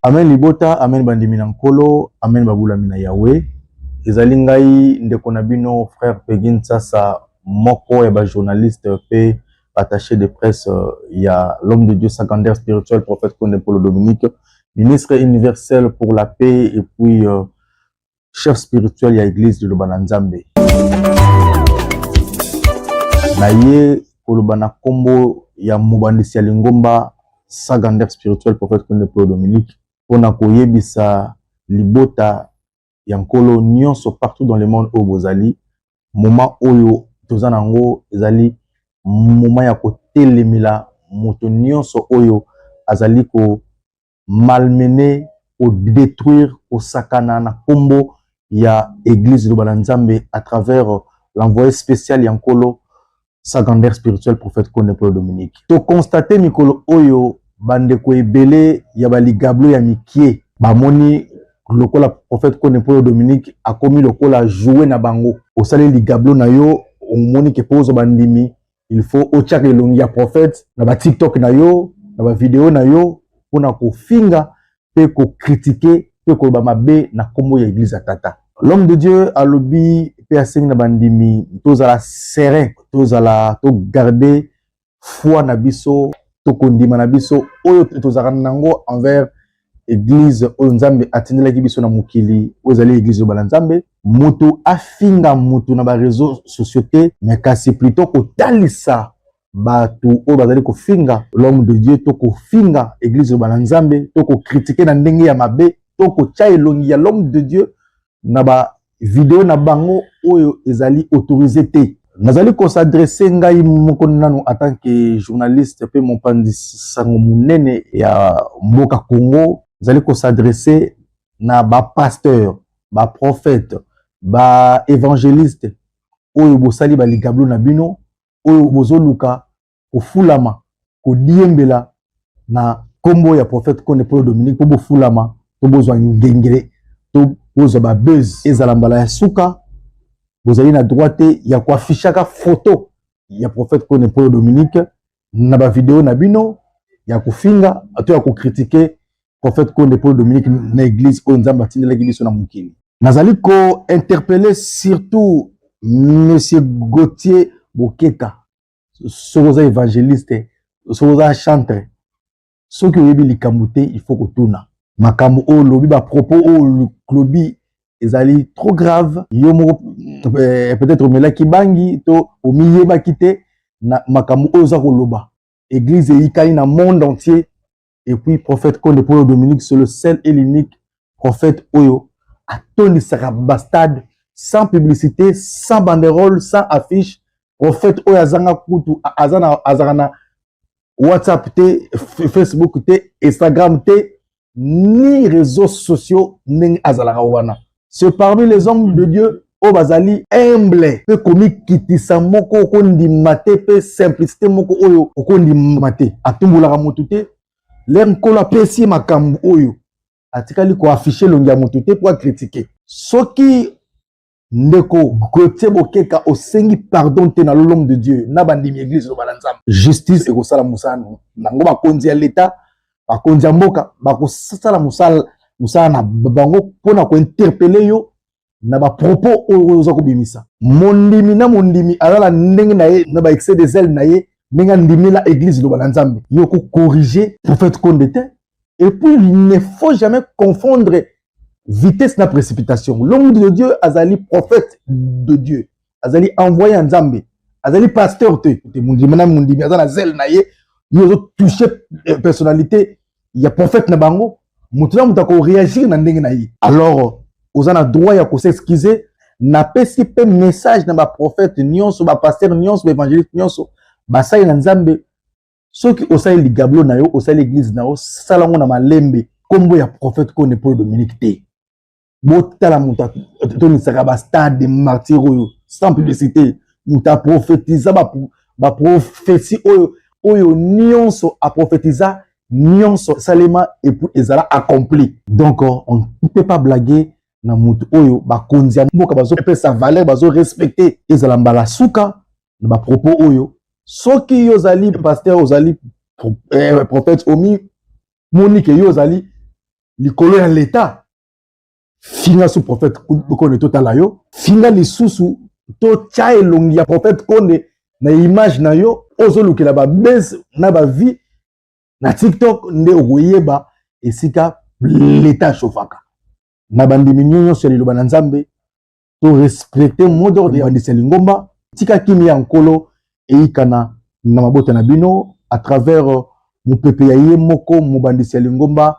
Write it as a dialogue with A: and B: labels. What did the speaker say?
A: amen libota amen bandimi na nkolo amen babulami na yawe ezali ngai ndeko na bino frère pegin sasa moko ya bajournaliste mpe attaché de presse euh, ya l'homme de Dieu secondaire spirituel prophète Konde Polo Dominique ministre universel pour la paix et puis euh, chef spirituel ya église de Lobana Nzambe na ye koloba na nkombo ya mobandisi ya lingomba secondaire spirituel prophète Konde Polo Dominique mpo na koyebisa libota ya nkolo nyonso partout dans le monde oyo bozali moma oyo toza na yango ezali moma ya kotelemela moto nyonso oyo azali ko malmene kodétruire kosakana na nkombo ya eglise loba na nzambe à travers l'envoyé spécial ya nkolo secondaire spirituel prophète Kone Polo Dominique. To constate mikolo oyo bandeko ebele ya baligablo ya mikie bamoni lokola prophète Kone Polo Dominique akomi lokola joue na bango. Osali ligablo na yo omoni ke po ozwa bandimi il faut otyaka elongi ya prophète na ba TikTok na yo na ba video na yo mpona kofinga mpe ko critiquer mpe koloba mabe na kombo ya eglise ya tata l'homme de dieu alobi mpe asengi na bandimi tozala serein tozala to garder foi na biso to kondima na biso oyo tozalaka nango envers eglise oyo nzambe atindelaki biso na mokili oyo ezali eglise loba na nzambe moto afinga moto na bareseau sociaux te me kasi plutot kotalisa bato oyo bazali kofinga l'homme de Dieu to kofinga eglise loba na Nzambe to kokritike na ndenge ya mabe to kotya elongi ya l'homme de Dieu na ba video na bango oyo ezali autorise te. Nazali kosadrese ngai moko nano atant que journaliste mpe mopanzi sango monene ya mboka Congo, nazali kosadrese na bapasteur, baprofete, baevangeliste oyo bosali baligablo na bino oyo bozoluka kofulama kodiembela na nkombo ya prophète Kone Polo Dominique mpo bofulama to bozwa ngengele to bozwa babuse ezala mbala ya suka bozali na droit te ya koafishaka foto ya prophète Kone Polo Dominique na bavideo na bino ya kofinga to ya kokritike prophète Konde Paul Dominique na église oyo Nzambe atindelaki biso na mokili. Nazali ko interpeller surtout monsieur Gauthier Bokeka soki oza evangeliste soki oza chantre soki oyebi likambo te il faut kotuna makambo oyo olobi bapropos oyo olobi ezali trop grave yo moko eh, peut-être omelaki bangi to omiyebaki te na makambo oyo oza koloba eglize eyikani na monde entier et puis prophète konde mpo oyo dominique c'est le seul et l'unique prophète oyo atondisaka bastade sans publicité sans banderole sans affiche prophète oyo azanga kutu azalaka na whatsapp te facebook te instagram te ni réseaux sociaux ndenge azalaka wana ce parmi les hommes de dieu oyo bazali humble mpe komikitisa moko okondima te mpe simplicité moko oyo okondima te atumbolaka motu te lere nkolo apesi ye makambo oyo atikali koafishe elongi ya motu te mpo akritike soki ndeko gotie bokeka osengi pardon te na lolome de dieu na bandimi eglise loba na nzambe justice ekosala mosala nango bakonzi ya leta bakonzi ya mboka bakosala mosala mosala na bango mpo na kointerpele yo na bapropos oyo oza kobimisa mondimi na mondimi aza na ndenge na ye na baexcès des ailes na ye ndenge andimela eglise loba na nzambe yo kokorige prophète konde te et puis il ne faut jamais confondre vitesse na précipitation l'homme de dieu azali prophète de dieu azali envoyé ya nzambe azali pasteur te te mondimi na mondimi aza na zele na ye ye ozotouche eh, personnalité ya prophète na bango moto na moto akoreagir na ndenge na ye alors oza na droit ya kosexcuse napesi mpe message na baprofete nyonso bapaster nyonso baevangeliste nyonso basali na nzambe soki osali ligablo na yo osali eglize na yo sala yango na malembe nkombo ya profete kone polo dominique te botala moto atonisaka bastade martyr oyo sans publicité moto aprofetiza baprofesi oyo oyo nyonso aprofetiza nyonso esalema epuis ezala accompli donc on ne peut pas blaguer na moto oyo bakonzi ya mboka bazopesa valeur bazorespecte ezala mbala suka na bapropos oyo soki yo ozali paster ozali eh, prophète omi monike yo ozali likolo ya leta finga su prophète kone totala yo finga lisusu totya elongi ya prophète kone na image na yo ozolukela babese na bavie na tiktok nde okoyeba esika leta ashofaka na bandimi nyonso ya liloba na nzambe to respecte mot d'ordre ya bandisi ya lingomba tika kimia ya nkolo eyikana na mabota na bino à travers euh, mopepe ya ye moko mobandisi ya lingomba